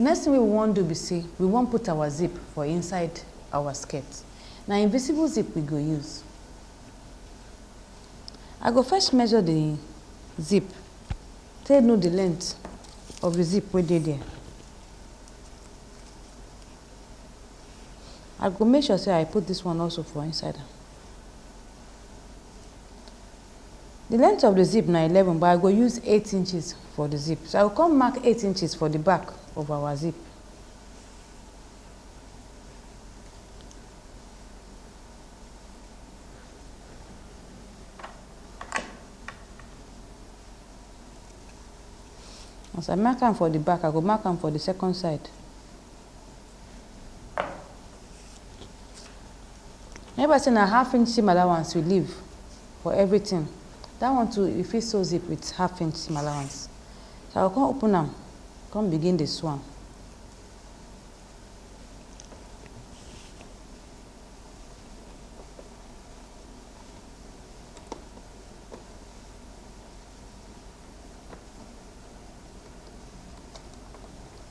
Next thing wey we wan do be say we wan put our zip for inside our skirt. Na invisible zip we go use. I go first measure the zip take know the length of the zip wey dey there. I go make sure say I put this one also for inside am. Di length of di zip na eleven but I go use eight inches for di zip so I go come mark eight inches for di back of our zip. As I mark am for di back I go mark am for di second side. Neighbor say na half inch seam allowance you leave for everything. That one too, you fit sew zip with half inch seam allowance. So I go come open am, come begin dey sew am.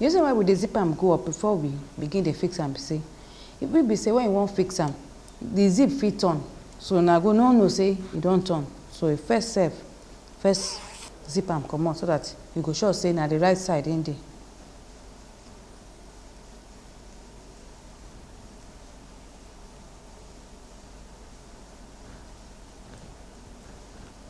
The reason why we dey zip am go up before we begin dey fix am be say e fit be say when you wan fix am the zip fit turn so una go no know say e don turn so you first sef first zip am comot so that you go sure say na the right side him dey.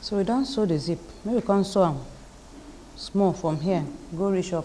so we don sew the zip make we come sew am small from here go reach up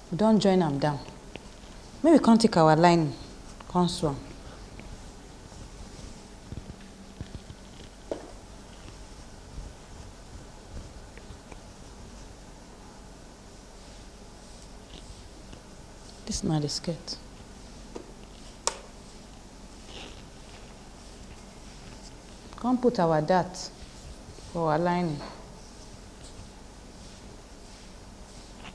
We don join am down. Make we come take our lining come sew am. Dis na di skirt. Come put our dart for our lining.